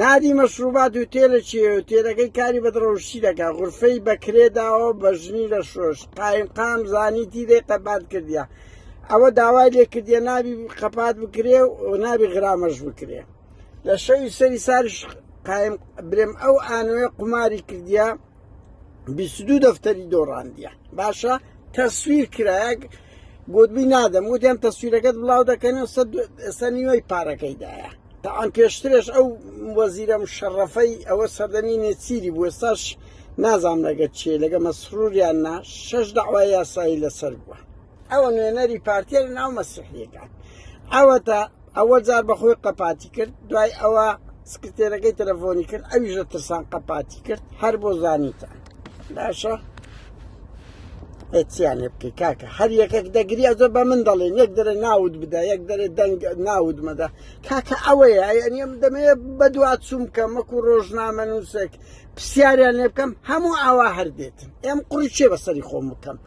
نادی مەشروبات و تێلە چێ و تێلەکەی کاری بەدڕەوشتی دەکە غرفەی بەکرێ داوە بە ژنی لە شۆش قایم قام زانی دی لێ قەبات کردیا ئەوە داوای لێ کردە نابی قەپات بکرێ و نابی غرامەش بکرێ لە شەوی سەری ساریش قایم برێم ئەو ئانوێ قوماری کردیا بیست دوو دەفتەری دۆڕاندیە باشە تەسویر کرایەک گوتبی نادەم وتیان تەسویرەکەت بڵاو دەکەن و سە نیوەی پارەکەیدایە تاعام پێشترش ئەو وەزیرە مشەڕەفەی ئەوە سەردەمی نێچیری بوو ساش نازام لەگە چێ لەگە مەسروریان نا شەش داوای یاسایی لەسەر بووە ئەوە نوێنەری پارتیە لە ناو مەسیحیەکان ئەوەتا ئەوە جار بەخۆی قەپاتی کرد دوای ئەوە سکرتێرەکەی تەلەفۆنی کرد ئەویش لە ترسان قەپاتی کرد هەر بۆ زانیتان باشە ئەتیان لێ بکەی کاکە هەر یەکێک دەگری ئەزۆ بە من دەڵێن یەک دەرێ ناود بدە یەک دەرێ دەنگ ناود مەدە کاکە ئەوەیە ئەنیم دەمێ بە دوا چوم بکەم وەکو ڕۆژنامە نووسێک پرسیاریان لێ بکەم هەموو ئاوا هەردێتن ئێم قڕی چێ بەسەری خۆم بکەم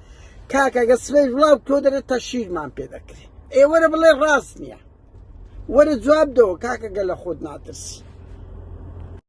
کاکە گە سبەی بڵاو بکەوە دەرێت تا شیرمان پێ دەکرێ ئێ وەرە بڵێ ڕاست نییە وەرە جواب دەوە کاکە گە لە خۆت ناترسی